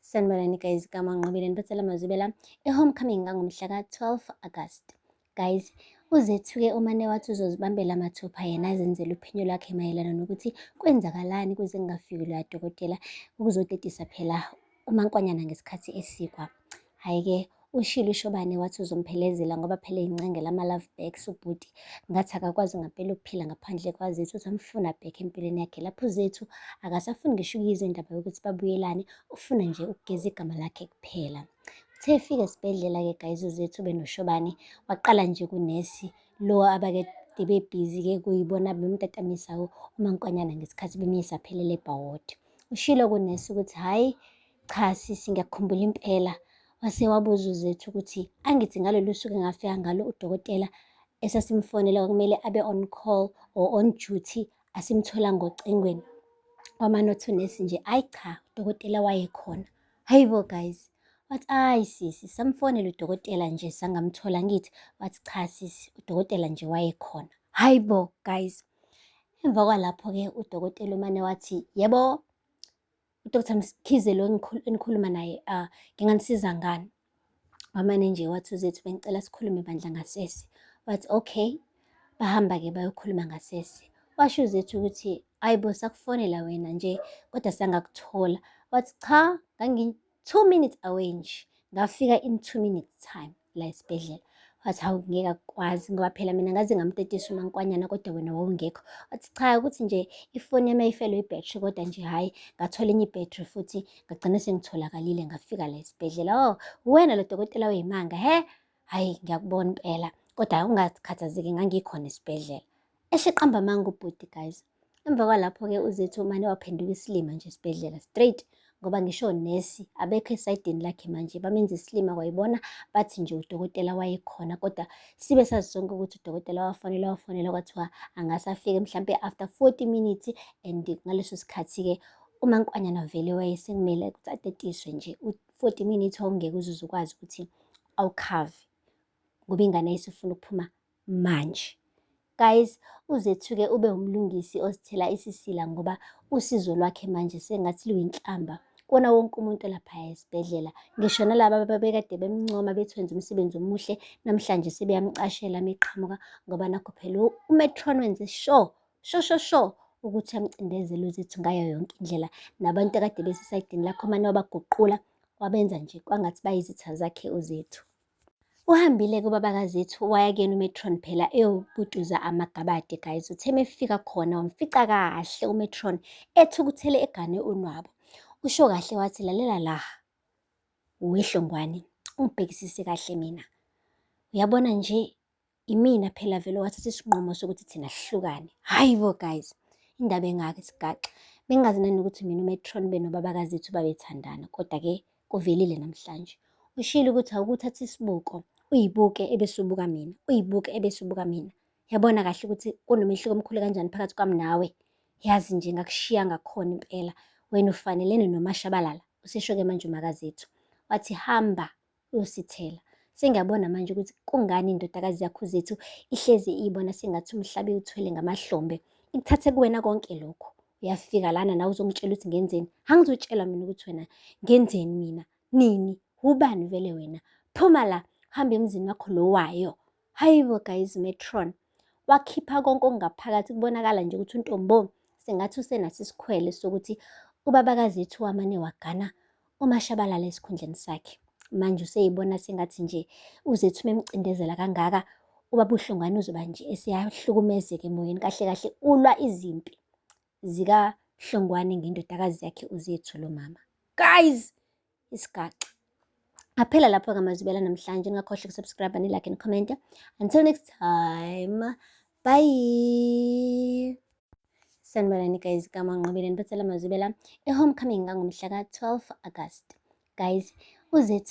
sanibonani guys kamanqobile nibethela mazibela e-homecoming ngangomhla ka-12 agast guys uzethuke umane wathi uzozibambela amathupha yena azenzele uphenyo lwakhe mayelana nokuthi kwenzakalani kuze kungafiki loya dokotela ukuzodedisa phela umankwanyana ngesikhathi esikwa Hhayi-ke ushilo uShobane wathi uzomphelezela ngoba phela eyincengela ama-love backs ubhuti. Ngathi akakwazi ngampela ukuphila ngaphandle kwaZethu, usamfuna back empilweni yakhe. Lapho uZethu akasafuni ngisho ukuyizwa indaba yokuthi babuyelane, ufuna nje ukugeza igama lakhe kuphela. Uthe efika esibhedlela-ke guys uZethu benoShobane, waqala nje kunesi lo abake bebhizi-ke kuyibona bemtatamisawo umankwanyana ngesikhathi bemyisa phelele ebhawodi. Ushilo kunesi ukuthi hhayi Cha sisi ngiyakhumbula impela wase wabuza uZethu ukuthi angithi ngalolu suku engafika ngalo udokotela esasimfonela kwakumele abe on call or on duty asimthola ngocingweni wamanothi unesi nje ayi cha udokotela wayekhona hayi bo guys wathi ayi sisi samfonela udokotela nje sangamthola ngithi wathi cha sisi udokotela nje wayekhona hayi bo guys emva kwalapho-ke udokotela umane wathi yebo uDr Mkhize lo enikhuluma naye uh, nginganisiza ngani wamane nje wathi uzethu bengicela sikhulume bandla ngasese wathi okay bahamba-ke bayokhuluma ngasese washo uzethu ukuthi ayi bo sakufonela wena nje kodwa sangakuthola wathi cha ngangi-two minutes away nje ngafika in two minutes time la esibhedlela wathi hawu ngeke akukwazi ngoba phela mina ngaze ngamtetisa umankwanyana kodwa wena wawungekho wathi cha ukuthi nje ifoni yami ayifelwe ibhetri kodwa nje hhayi ngathola enye ibhetri futhi ngagcina sengitholakalile ngafika la esibhedlela o oh, wena lo dokotela weyimanga he hhayi ngiyakubona impela kodwa ungakhathazeki ngangikhona esibhedlela eshiqamba amanga ubhuti guys emva kwalapho-ke uzethu umane waphenduka isilima nje esibhedlela straight ngoba ngisho nesi abekho esayidini lakhe manje bamenza isilima kwayibona bathi nje udokotela wayekhona kodwa sibe sazi sonke ukuthi udokotela wafonela wafonela kwathiwa angasafike mhlampe after 40 minutes and ngaleso sikhathi-ke uma nkwanyana vele wayesekumele ukuthi atetiswe nje u-40 minutes ongeke uzuze ukwazi ukuthi awukhave ngoba ingane ayisifuna ukuphuma manje. Guys uzethuke ube umlungisi ozithela isisila ngoba usizo lwakhe manje sengathi luyinhlamba kona wonke umuntu olapha esibhedlela ngisho nalaba babekade bemncoma bethenze umsebenzi omuhle namhlanje sebeyamcashela meqhamuka ngoba nakho phela umetron wenze sure sho sho sho ukuthi amcindezele uzethu ngayo yonke indlela nabantu akade besesayidini lakho mane wabaguqula wabenza nje kwangathi bayizitha zakhe uzethu Uhambile kubaba kaZethu waya kuyena uMetron phela eyobuduza amagabade guys. Uthe mefika khona wamfica kahle uMetron ethukuthele egane unwabu. Usho kahle wathi lalela la. Wehlongwane, ungibhekisise kahle mina. Uyabona nje Imina phela vele wathatha isinqumo sokuthi thina sihlukane. Hayi bo guys, indaba engaka isigaxa. Bengazi nani ukuthi mina uMetron benobabakazethu babethandana, kodwa ke kuvelile namhlanje. Ushilo ukuthi awukuthatha isibuko, uyibuke ebese ubuka mina, uyibuke ebese ubuka mina. Yabona kahle ukuthi kunomehluko omkhulu kanjani phakathi kwami nawe. Yazi nje ngakushiya ngakhona impela. Wena ufanelene nomashabalala, usesho-ke manje umakazethu. Wathi hamba uyosithela. Sengiyabona manje ukuthi kungani indodakazi yakho zethu ihlezi iyibona sengathi umhlaba iwuthwele ngamahlombe. Ikuthathe kuwena konke lokho. Uyafika lana nawe uzongitshela ukuthi ngenzeni. Angizotshela mina ukuthi wena ngenzeni mina. Nini? Wubani vele wena? Phuma la, hamba emzini wakho lowayo. Hayibo guys metron wakhipha konke okungaphakathi kubonakala nje ukuthi untombo sengathi usenaso isikhwele sokuthi ubabakazethu wamane wagana umashabalala esikhundleni sakhe manje useyibona sengathi nje uzethu memcindezela kangaka ubabuhlongwane uzoba nje esiyahlukumezeka emoyeni kahle kahle ulwa izimpi zikahlongwane ngendodakazi yakhe uzethu lo mama guys isigaxa aphela lapho-ke amazibela namhlanje ningakhohlwa ukusubscribe nilike and comment until next time bye sanibonani guys kamanqobile nibethela amazibela e-homecoming ngangomhla ka-12 agasti guys uzethu